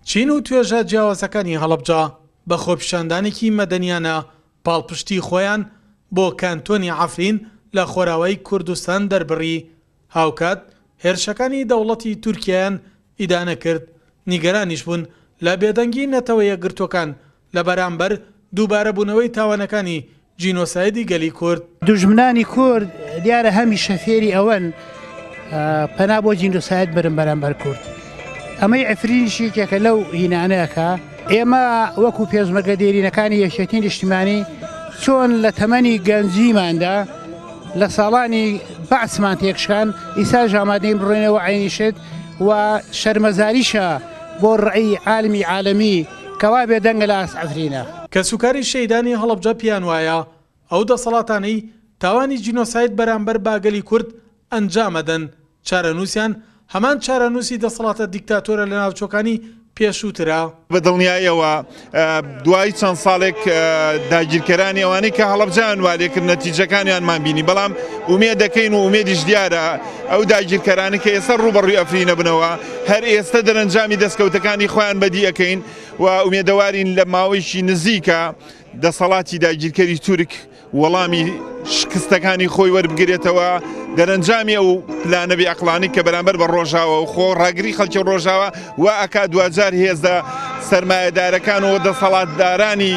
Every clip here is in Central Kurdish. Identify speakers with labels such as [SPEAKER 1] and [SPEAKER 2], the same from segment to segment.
[SPEAKER 1] چین و توێژە جیاوازەکانی هەڵەبجە بە خۆپیشاندانێکی مەدەنیانە پاڵپشتی خۆیان بۆ کانتۆنی عەفرین لە خۆراوای کوردستان دەربڕی، هاوکات هێرشەکانی دەوڵەتی تورکیایان ئیدانە کرد، نیگەرانیش بوون لە بێدەنگی نەتەوە یەکگرتووەکان لە بەرامبەر دووبارە بوونەوەی تاوانەکانی جینۆسایدی گەلی کورد. دوژمنانی کورد
[SPEAKER 2] دیارە هەمیشە فێری ئەوەن پەنا بۆ جینۆساید برن بەرامبەر کورد. ئەمەی عفرینیش یەکێکە لەو هینانەیە کە ئێمە وەکو پێشمەرگە دێرینەکانی یەکێتی نیشتیمانی چۆن لە تەمەنی گەنجیماندا لە ساڵانی بەعسمان تێکشکان ئیساش ئامادەین بڕۆینەوە عەینی شت و شەرمەزاریشە بۆ ڕەئی عالمی عالەمی کوا بێ دەنگە لە ئاست عەفرینە. کەس و کاری
[SPEAKER 1] شەهیدانی هەڵەبجە پێیان وایە ئەو دەسەڵاتانەی تاوانی جینۆساید بەرامبەر با گەلی کورد ئەنجام ئەدەن چارەنووسیان هەمان چارەنووسی دەسەڵاتە دیکتاتۆرە لە ناوچۆکانی پێشووترە. بە دڵنیایەوە
[SPEAKER 3] دوای چەند ساڵێک داگیرکەرانی ئەوانەی کە هەڵەبجەیان وا لێ کرد نەتیجەکانیانمان بینی بەڵام ئومێد دەکەین و ئومێدیش دیارە ئەو داگیرکەرانەی کە ئێستا ڕووبەڕووی عەفرینە بنەوە هەر ئێستە دەرەنجامی دەستکەوتەکانی خۆیان بەدی ئەکەین و ئومێدەوارین لە ماوەیشی نزیکە دەسەڵاتی داگیرکەری تورک وەڵامی شکستەکانی خۆی وەربگرێتەوە دەرەنجامی ئەو پلانەبی ئەقلانی کە بەرامبەر بە ڕۆژاوە و خۆ ڕاگری خەلکی ڕۆژاوە و ئەک دوجار هێزە سرمایهدارەکان و دەسەڵاتدارانی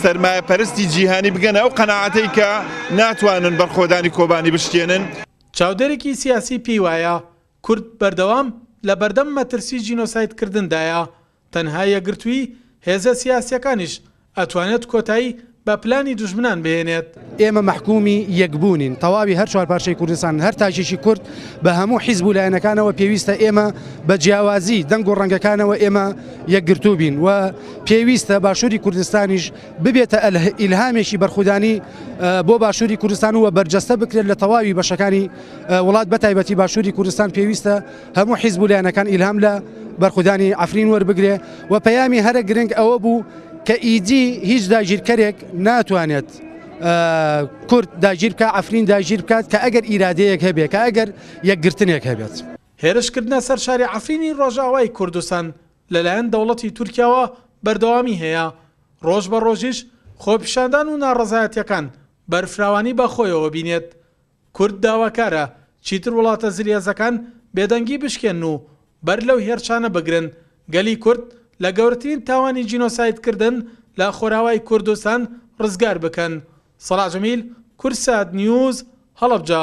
[SPEAKER 3] سرمایە پەرستی جیهانی بگەن ئەو قەنەعاتەی کە ناتوانن بەرخۆدانی کۆبانی بشکێنن چاودێرێکی
[SPEAKER 1] سیاسی پێی وایە، کورد بەردەوام لە بەردەم مەترسی جینۆساید کردندایە، تەنها یەکگرتووی هێزە سیاسیەکانیش ئەتوانێت کۆتایی بە پلانی دوژمنان بهێنێت. ئێمە مەحکومی
[SPEAKER 4] یەک بوونین تەواوی هەر چوار پارچەی کوردستان، هەر تاکێکی کورد بە هەموو حیزب و لایەنەکانەوە پێویستە ئێمە بە جیاوازی دەنگ و ڕەنگەکانەوە ئێمە یەکگرتوو بین و پێویستە باشوری کوردستانیش ببێتە ئیلهامێکی بەرخودانی بۆ باشوری کوردستان و بەرجەستە بکرێت لە تەواوی بەشەکانی وڵات بەتایبەتی باشووری کوردستان پێویستە هەموو حیزب و لایەنەکان ئیلهام لە بەرخودانی ئەفرین وەربگرێ و پەیامی هەرە گرنگ ئەوە بوو کە ئیدی هیچ داگیرکەرێک ناتوانێت کورد داگیر بکە ئەفرین داگیر بکات کە ئەگەر ئیرادەیەک هەبێت کە ئەگەر یەکگرتنێک هەبێت. هێرشکردنە سەر
[SPEAKER 1] شاری عەفرینی ڕۆژئاوای کوردستان لەلایەن دەوڵەتی تورکیاوە بەردەوامی هەیە، ڕۆژ بە ڕۆژیش خۆپیشاندان و ناڕەزایەتییەکان بەرفراوانی بەخۆیەوە بینێت، کورد داواکارە چیتر وڵاتە زلهێزەکان بێدەنگی بشکێنن و بەر لەو هێرشانە بگرن، گەلی کورد لە گەورترین تاوانی جینۆساید کردن لە خۆراوای کوردستان ڕزگار بکەن. سەلاح جەمیل، کورسات نیوز، هەڵەبجە.